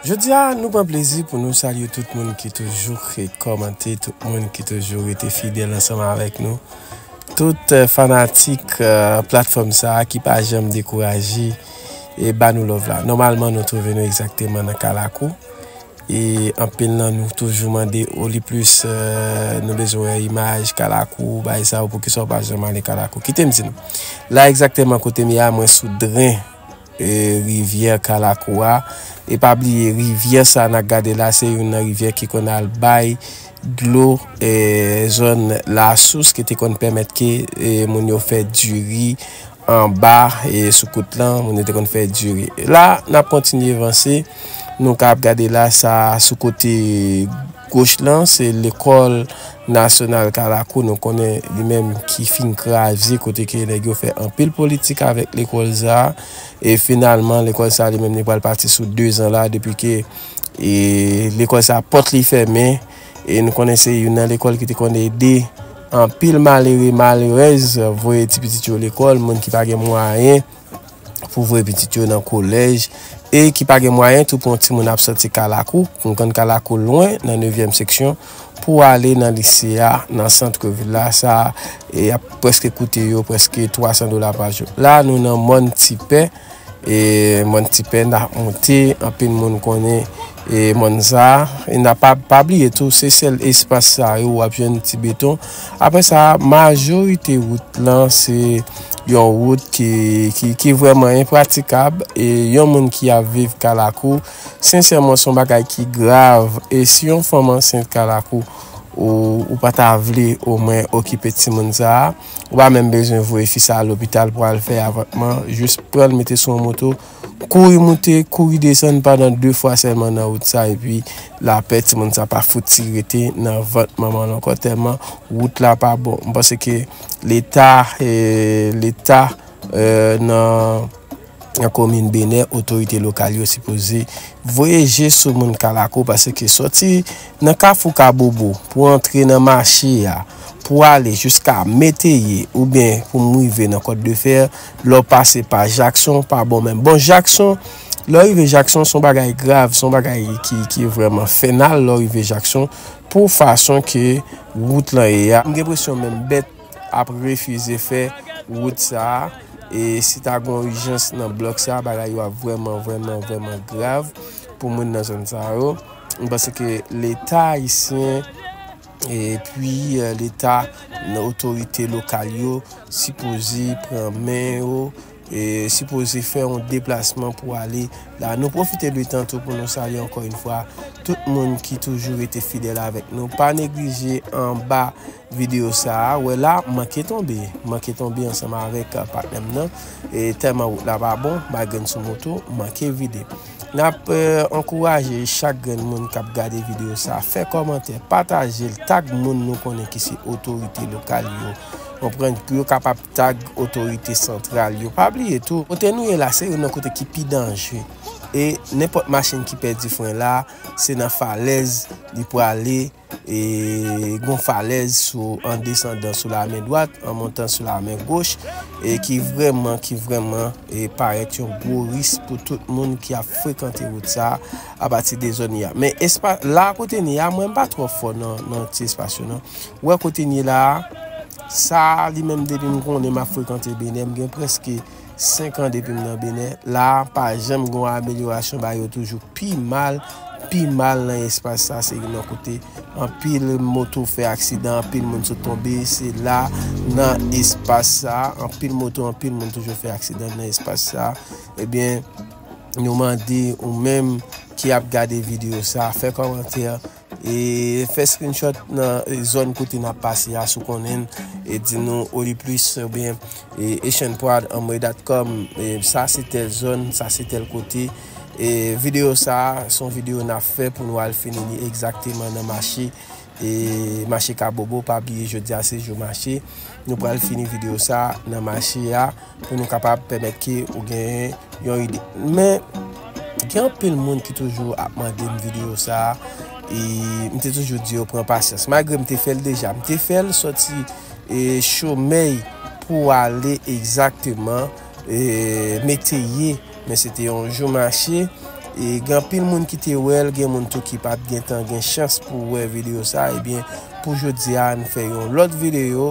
Jodi a nou pran plezi pou nou salye tout moun ki toujou kre kòmante, tout moun ki toujou rete fidèl ansanm avèk nou, tout fanatik platfòm sa ki pa janm dekouraje. e ba nou love la nòmalman nou trouve nou egzakteman nan kalakou e anpil nan nou toujou mande o li plis nou bezwen wè imaj kalakou bay sa ou pou kisa ou pa janm ale kalakou kite m di nou la egzakteman kote m ye a mwen sou dren rivyè kalakou a e pa bliye rivyè sa nan gade la se yon nan rivyè ki konn al bay dlo e zòn la sous ki te konn pèmèt ke moun yo fè diri Anba e sou kout lan, moun yo te konn fè diri. La, n ap kontinye vanse. Nou ka ap gade la sa sou kote goch lan, se lekòl nasyonal Kalakou. Nou konnen li menm ki fin kraze kote ke nèg yo fè anpil politik avèk lekòl sa. E finalman, lekòl sa li menm li pral pati sou dezan la depi ke lekòl sa pòt li fèmen. E nou konnen se youn nan lekòl ki te konn ede anpil malere, malerèz voye ti pitit yo lekòl, moun ki pa gen mwayen pou voye pitit yo nan kolèj e ki pa gen mwayen tou pou yon timoun ap soti Kalakou, nou konn Kalakou lwen nan nevyèm seksyon, pou ale nan lise a nan santre vil la, sa e ap prèske koute yo prèske 300 dola pa jou. La nou nan mòn Tipè. e mòn tipè n ap moute anpil moun konnen e mòn sa e na pa pa bliye tou se sèl espas sa yo wap jwenn ti beton apre sa majorite wout lan se yon wout ki ki ki vrèman enpratikab e yon moun ki ap viv kalakou sensèman son bagay ki grav e si yon fanm ansent kalakou ou ou pa ta vle omwen okipe timoun sa. Ou pa menm bezwen voye fi sa lopital pou al fè avòtman, jis pran l mete sou yon moto, kouri moute, kouri desann pandan 2 fwa sèlman nan wout sa epi lapè timoun sa pa fouti rete nan vant manman l ankò tèlman wout la pa bon. M panse ke leta, leta nan. Nan komin Benè, otorite lokal yo sipoze voye je sou moun Kalakou paske sòti nan kafou Kabobo pou antre nan mache a, pou ale jiska Meteye oubyen pou m rive nan Kòt de Fè, lè w pase pa Jakson, pa bon menm. Bon Jakson, lè w rive Jakson s on bagay grav, s on bagay ki vrèman fènal lè w rive Jakson pou fason ke wout lan ye a. M gen enpresyon menm bèt. ap refize fè wout sa a e si ta gen yon ijans nan blòk sa a bagay yo ap vrèman vrèman vrèman grav pou moun nan zòn sa yo m panse ke leta ayisyen e pwi leta nan otorite lokal yo sipoze pran men yo e sipoze fè yon deplasman pou ale la nou pwofite de tan tou pou nou salye ankò yon fwa tout moun ki toujou rete fidèl avèk nou pa neglije anba. Video sa a wè la m manke tonbe m manke tonbe ansanm avèk patnè m nan e tèlman wout la pa bon malgre m sou moto m manke vide n ap ankouraje chak grenn moun k ap gade video sa fè kòmantè pataje l tag moun nou konnen ki se otorite lokal yo konprann pou yo kapab tag otorite santral yo pa bliye tou kote nou ye la se youn nan kote ki pi danje e nenpòt machin ki pèdi fren la se nan falèz li prale. E gon falèz sou an desandan sou la men dwat, an montan sou la men goch, e ki vrèman, ki vrèman, e parèt yon gwo ris pou tout moun ki ap frekante wout sa a, a pati de zòn ya. Men espa, la kote n ye a, mwen m pa twò fò nan, nan ti espas yo nan. Ou wè kote n ye la a, sa a li menm depi m konnen m ap frekante Benè, m gen prèske. 5 an depim nan Bénin la pa janm gon amelyorasyon bagay yo toujou pi mal pi mal nan espas sa se yon kote anpil moto fè aksidan anpil moun sot tonbe se la nan espas sa anpil moto anpil moun toujou fè aksidan nan espas sa ebyen eh nou mande ou menm ki ap gade video sa fè komantè E fè screenshot nan zòn kote nap pase a si w konnen l e di nou Oliplis oubyen Echanprod anmwe dat kòm sa se tèl zòn sa se tèl kote e videyo sa se yon videyo nap fè pou nou al fini li egzakteman nan mache e mache kabobo pa bliye jodi a se jou mache nou pral fini videyo sa nan mache a. Pou nou kapab pèmèt ke ou genyen yon ide. Men, gen anpil moun ki toujou ap mande m videyo sa a, e m te toujou di yo pran pasyans. Malgre m te fè l deja, m te fè l sòti chomèy pou ale egzakteman meteyye. Men se te yon jou mache, e gen anpil moun ki te wè l, gen moun tou ki pa t gen tan gen chans pou wè videyo sa a. Ebyen, pou jodi a, n fè yon lòt videyo.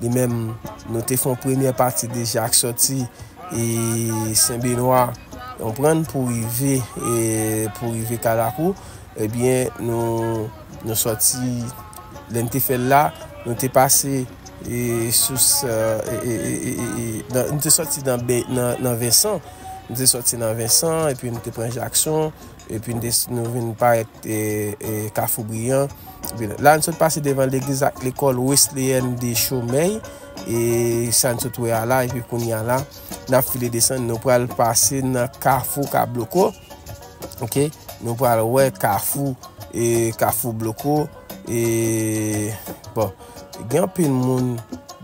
Li menm, nou te fè yon premyè pati deja ak sòti e Sen Benwa, ou konprann, pou rive e pou rive Karakou. Ebyen, nou sòti, lè n te fè l la, nou te pase e sou sa e nou te sòti nan Vensan, nou te sòti nan Vensan epi nou te pran Jakson. epi n desi nou vin parèt kafou briyan la n sot pase devan legliz ak lekòl wesleyen de chomèy e sa n sot wè a la epi kounye a la n ap file desann nou pral pase nan kafou ka bloko ok nou pral wè kafou e kafou bloko e bon Gen anpil moun,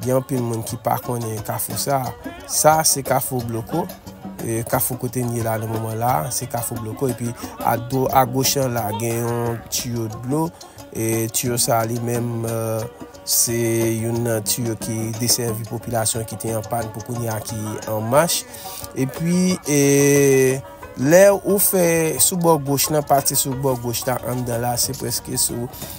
gen anpil moun ki pa konnen kafou sa. Sa a se kafou bloko, kafou kote n ye la nan moman la, se kafou bloko. E pi a do, a goch an la gen yon tiyo dlo. E tiyo sa a li menm, se yon nan tiyo ki desèvi popilasyon ki te an pàn pou kounye a ki an mach. E pi e, lè ou fè sou bò goch lan, pati sou bò goch la anndan la, se prèske sou.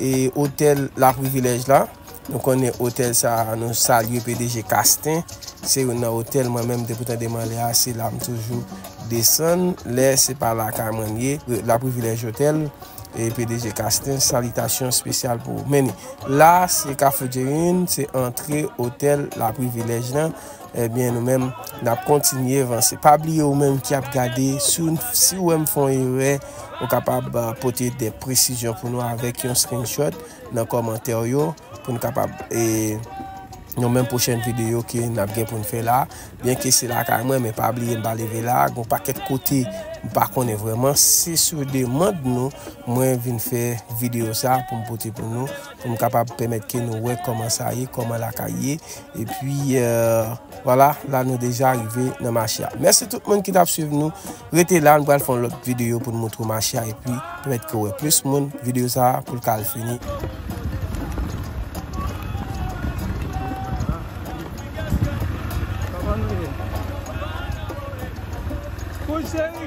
E otèl la privilèj la nou konnen otèl sa nou salye pdg kasten se youn nan otèl mwen menm depi tande mwen ale a se la m toujou desann lè se pa lakay mwen li ye la privilèj otèl e pdg kasten salitasyon spesyal pou ou men ni la se kafou djerin se antre otèl la privilèj lan. Ebyen nou menm nap kontinye vanse. Pa bliye ou menm ki ap gade si ou wè m fè yon erè ou kapab pote de presizyon pou nou avèk yon screenshot nan kòmantè ou yo pou nou kapab e nan menm pwochèn videyo ke n ap gen pou n fè la. Byen ke se lakay mwen men pa bliye m pa leve la gon pakèt kote m pa konnen vreman se sou demand nou mwen vin fè videyo sa pou m pote pou nou pou m kapab pèmèt ke nou wè kòman sa ye kòman lakay ye E pwi wala la nou deja rive nan mache a. Mèsi tout moun ki tap swiv nou. Rete la nou pral fon lòt videyo pou nou montre w mache a. E pwi pwèt ke wè plis moun videyo sa a pou l kal fini. Kouche!